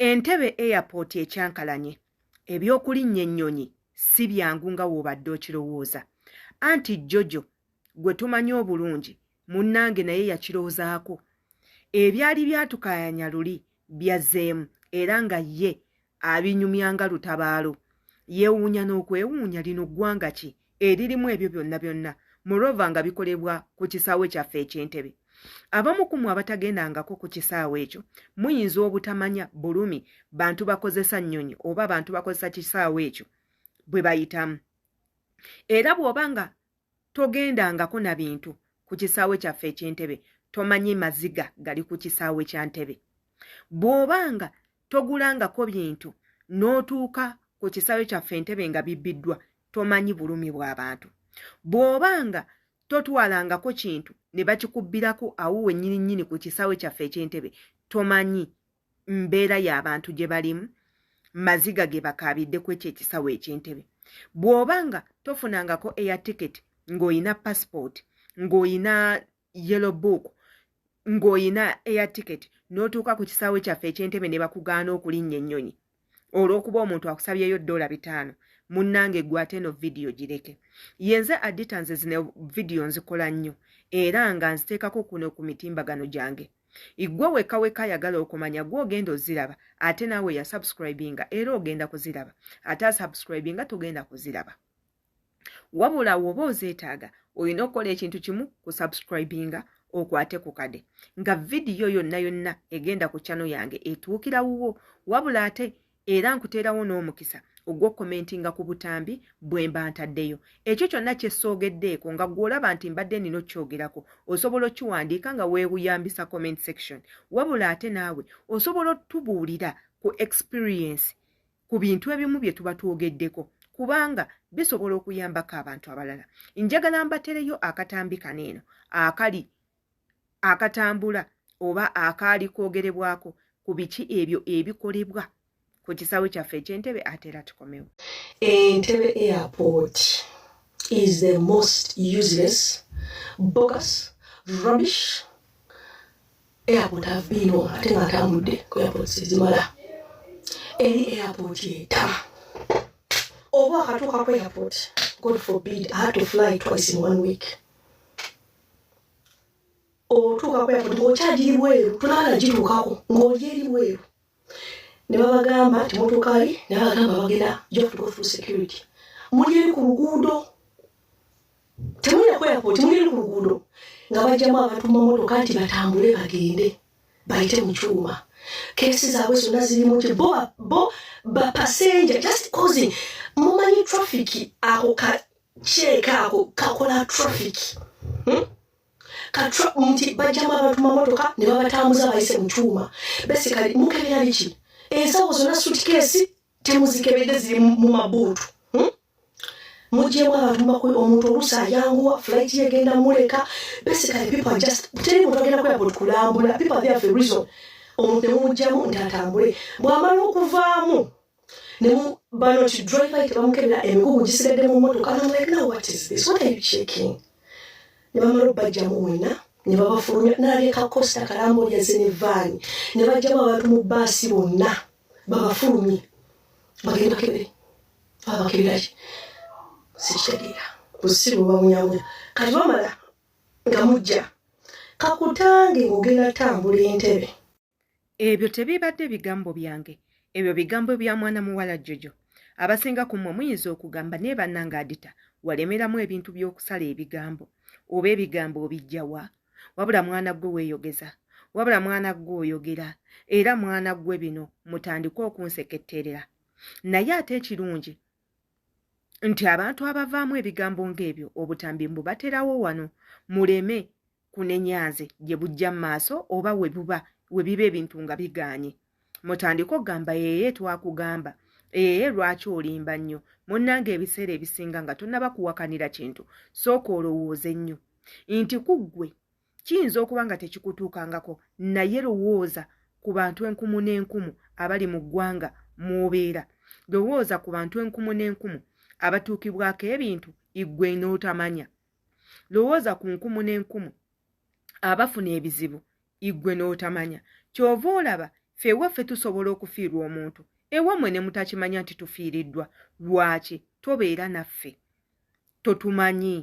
Entebe Airport ekyankalanye, eby'okulinnya ennyonyi si byangu nga w'obadde okirowooza. Anti Jojo gwe tumanyi obulungi munnange naye yakirozaako. Ebyali byatukaayanya luli byazzeemu era nga ye abinyumya nga lutabaalo. Yeewuunya n'okwewuunya lino ggwanga ki eririmu ebyo byonna byonna morova nga bikolebwa ku kisaawe kyaffe ekyentebe abamu ku mwe abatagendangako ku kisaawe ekyo muyinza obutamanya bulumi bantu bakozesa nnyonyi oba bantu bakozesa kisaawe ekyo bwe bayitamu era bw'oba nga togendangako na bintu ku kisaawe kyaffe ekyentebe tomanyi maziga gali ku kisaawe kya ntebe bw'oba nga togulangako bintu n'otuuka ku kisaawe kyaffe entebe nga bibbiddwa tomanyi bulumi bw'abantu bw'oba nga totwalangako kintu ne bakikubbirako awo wennyini nnyini ku kisaawe kyaffe eky'entebe tomanyi mbeera y'abantu gye balimu maziga ge bakaabidde ku ekyo ekisaawe eky'entebe bw'oba nga tofunangako eya tiketi ng'olina pasipooti ng'olina yellow book ng'olina air ticket n'otuuka ku kisaawe kyaffe eky'entebe ne bakugaana okulinnya ennyonyi olw'okuba omuntu akusabyeyo ddoola bitaano munnange gwe ate eno vidiyo gireke yenze adita nze zino vidiyo nzikola nnyo era nga nziteekako kuno ku mitimbagano gyange iggwe wekka wekka ayagala okumanya gwe ogenda oziraba ate naawe yasubscribinga era ogenda kuziraba ate asubscribinga togenda kuziraba wabula woba ozeetaaga olina okukola ekintu kimu ku subscribinga okwate ku kade nga vidiyo yonna yonna egenda ku kyano yange etuukira wuwo wabula ate era nkuteerawo n'omukisa ogw'okukomentinga ku butambi bwe mba ntaddeyo ekyo kyonna kyessoogeddeeko nga gw'olaba nti mbadde nina okukyogerako osobola okiwandiika nga weewuyambisa comment section wabula ate naawe osobola otubuulira ku experience ku bintu ebimu bye tuba twogeddeko kubanga bisobola okuyambako abantu abalala njagala mbatereyo akatambi kano eno akali akatambula oba akaali kwogerebwako ku biki ebyo ebikolebwa ku kisaawe kyaffe ekyentebe ate era tukomewo entebe airport is the most useless bogus rubbish airport have been on ate nga atambudde ku airport sezimala eri airport eta oba akatuuka ku airport god forbid i had to fly twice in one week otuuka ku airport ng'okyagiri bweru tunaba nagituukako ng'oli eri bweru ne babagamba nti mutuuka wali ne babagamba bagenda jof to go through security muli eri ku luguudo temulina ku airport muli eri ku luguudo nga bajjamu abantu mu mamotoka nti batambule bagende bayite mu kyuma kesi zaabwe zonna zirimu nti bo bo bapasenja just causing mumanyi traffic ako kaceeka ako kakola traffic hmm? nti bajjamu abantu mamotoka ne babatambuza bayise mu kyuma besikali mukebera biki ensawo zonna sutikeesi temuzikebedde ziri mu mabuutu hmm? mujemu abantu makulu omuntu oluusi ayanguwa flight yegenda muleka basically people are just teri muntu agenda kwera buli kulambula people are there for a reason omuntu nemumujjamu nti atambule bwamala okuvaamu nemu bano ti driver yite bamukebera emigugu gisigadde mu motoka and I'm like now what is this what are you checking ne bamala obajjamu wena ne babafulumya naleka costa kalambo yaze ne vaani ne bajjamu abantu mu baasi bonna babafulumye bagende bakebere babakeberaye sikitegeera busiru bamunyamunya kati bamala nga mujja kakutange ngogenda tambula entebe Ebyo tebiibadde bigambo byange, ebyo bigambo bya mwana muwala Jojo. Abasinga ku mmwe muyinza okugamba, naye bannange Adita, walemeramu ebintu by'okusala ebigambo. Oba ebigambo obijja wa? Wabula mwana ggwe weeyogeza. Wabula mwana ggwe oyogera. Era mwana ggwe bino mutandike okunseketterera. Naye ate ekirungi nti abantu abavaamu ebigambo ng'ebyo obutambi mbu baterawo wano muleme kunenyanze gye bujja mu maaso oba we buba we biba ebintu nga bigaanye mutandika okugamba yeye twakugamba ee lwaki olimba nnyo munnanga ebiseera ebisinga nga tonnaba kuwakanira kintu sooka olowooze nnyo nti ku ggwe kiyinza okuba nga tekikutuukangako naye lowooza ku bantu enkumu n'enkumu abali mu ggwanga mw'obeera lowooza ku bantu enkumu n'enkumu abatuukibwako ebintu iggwe n'otamanya lowooza ku nkumu n'enkumu abafuna ebizibu iggwe n'otamanya ky'ova olaba fe ewaffe tusobola okufiirwa omuntu ewammwe ne mutakimanya nti tufiiriddwa lwaki tobeera naffe totumanyi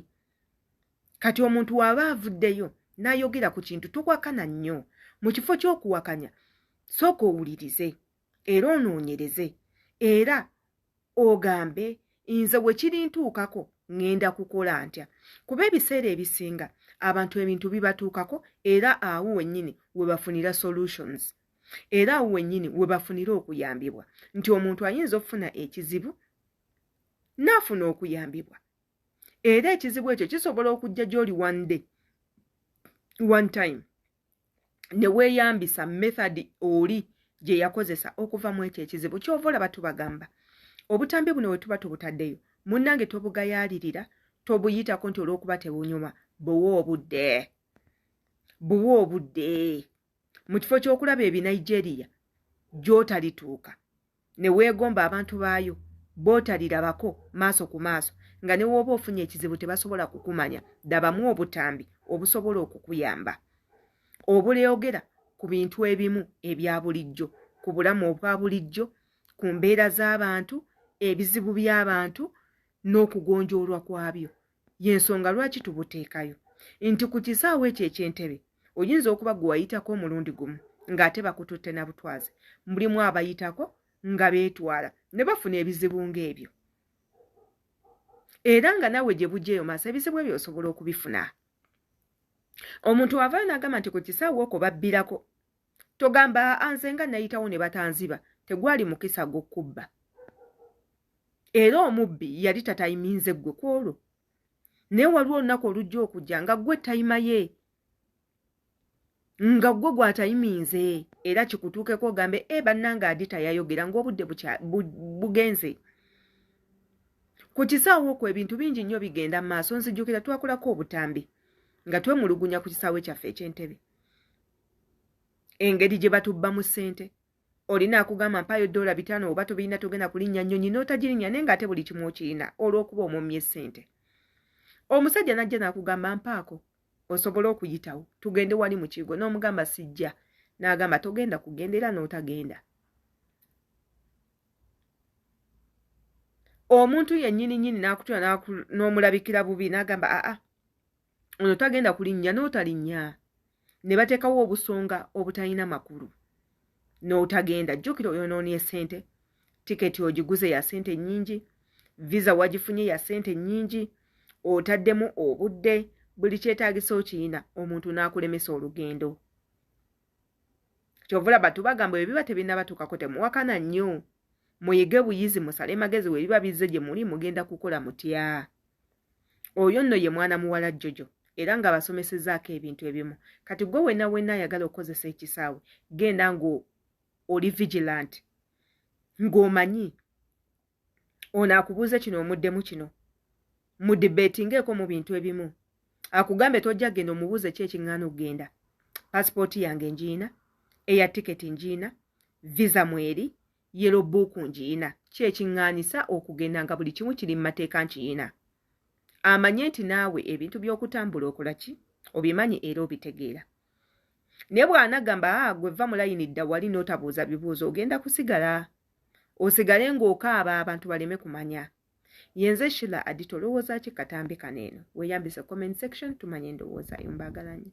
kati omuntu waba avuddeyo n'ayogera ku kintu tuwakana nnyo mu kifo ky'okuwakanya sooka owulirize era onoonyereze era ogambe nze we kirintuukako ŋŋenda kukola ntya kuba ebiseera ebisinga abantu ebintu bibatuukako era awo wennyini we bafunira solutions era awo wennyini we bafunira okuyambibwa nti omuntu ayinza okufuna ekizibu n'afuna okuyambibwa era ekizibu ekyo kisobola okujja gy'oli one day one time ne weeyambisa method oli gye yakozesa okuva mu ekyo ekizibu kyova olaba tubagamba obutambi buno we tuba tubutaddeyo munnange tobugayaalirira tobuyitako nti olw'okuba tebunyuma buwa obudde buwa obudde mu kifo ky'okulaba ebinigeria gy'otalituuka ne weegomba abantu baayo bootalirabako maaso ku maaso nga ne wooba ofunye ekizibu tebasobola kukumanya dabamu obutambi obusobola okukuyamba obuleogera ku bintu ebimu ebya bulijjo ku bulamu obwa bulijjo ku mbeera z'abantu ebizibu by'abantu n'okugonjoolwa kwabyo yensonga lwaki tubuteekayo nti ku kisaawe ekyo ekyentebe oyinza okuba gwe wayitako omulundi gumu ng'ate bakututte na butwazi mulimu abayitako nga beetwala ne bafuna ebizibu ng'ebyo era nga nawe gye bujja eyo maaso ebizibu ebyo osobola okubifuna omuntu wavayo n'agamba nti ku kisaawe okwo babbirako togamba aa nze nga nayitawo ne batanziba tegwali mukisa gw'okubba era omubbi yali tatayiminze ggwe ku olwo naye waliwo olunaku olujja okujja nga ggwe tayima ye nga ggwe gwatayiminze era kikutuukeko ogambe e eh, bannanga adi tayayogera ng'obudde bugenze ku kisaawo okwo ebintu bingi nnyo bigenda mu maaso nzijukira twakulako obutambi nga twemulugunya ku kisaawe kyaffe eky'entebe engeri gye batubba mu ssente olina akugamba mpaayo doola bitaano oba tobirina togenda kulinnya nnyonyi n'otagirinnya naye ng'ate buli kimu okirina olw'okuba omumye ssente omusajja n'ajja n'akugamba mpaako osobole okuyitawo tugende wali mu kigo n'omugamba sijja n'agamba togenda kugenda era n'otagenda omuntu yennyini nnyini n'akutula n'omulabikira bubi n'agamba aa ono tagenda kulinnya n'otalinnya ne bateekawo obusonga obutalina makulu n'otagenda jjukira oyonoonye ssente tiketi ogiguze ya ssente nnyingi visa wagifunye ya ssente nnyingi otaddemu obudde buli kyetaagisa okiyina omuntu n'akulemesa olugendo kyova olaba tubagamba ebyo biba tebinabatuukako temuwakana nnyo muyige buyizi musale magezi webiba bizze gye muli mugenda kukola mutya oyo nno ye mwana muwala jojo era ng'abasomesezaako ebintu ebimu kati gwe wena wena ayagala okukozesa ekisaawe genda ng'oli vigilant ng'omanyi ono akubuuze kino omuddemu kino mudibetingeeko mu bintu ebimu akugambe tojja genda omubuuze ki ekiŋŋaana okugenda pasipooti yange ngiina eya tiketi ngiina visa mweri yero buuku ngiina ki ekiŋŋaanisa okugenda nga buli kimu kiri mu mateeka nkiyiina amanye nti naawe ebintu by'okutambula okola ki obimanyi era obitegeera naye bw'anagamba ah, gwe vva mulayini dda wali n'otabuuza bibuuzo ogenda kusigala osigale ng'okaaba abantu baleme kumanya yenze shila adito olowooza ki katambi kano eno weyambise comment section tumanye endowooza yo mbagalanyo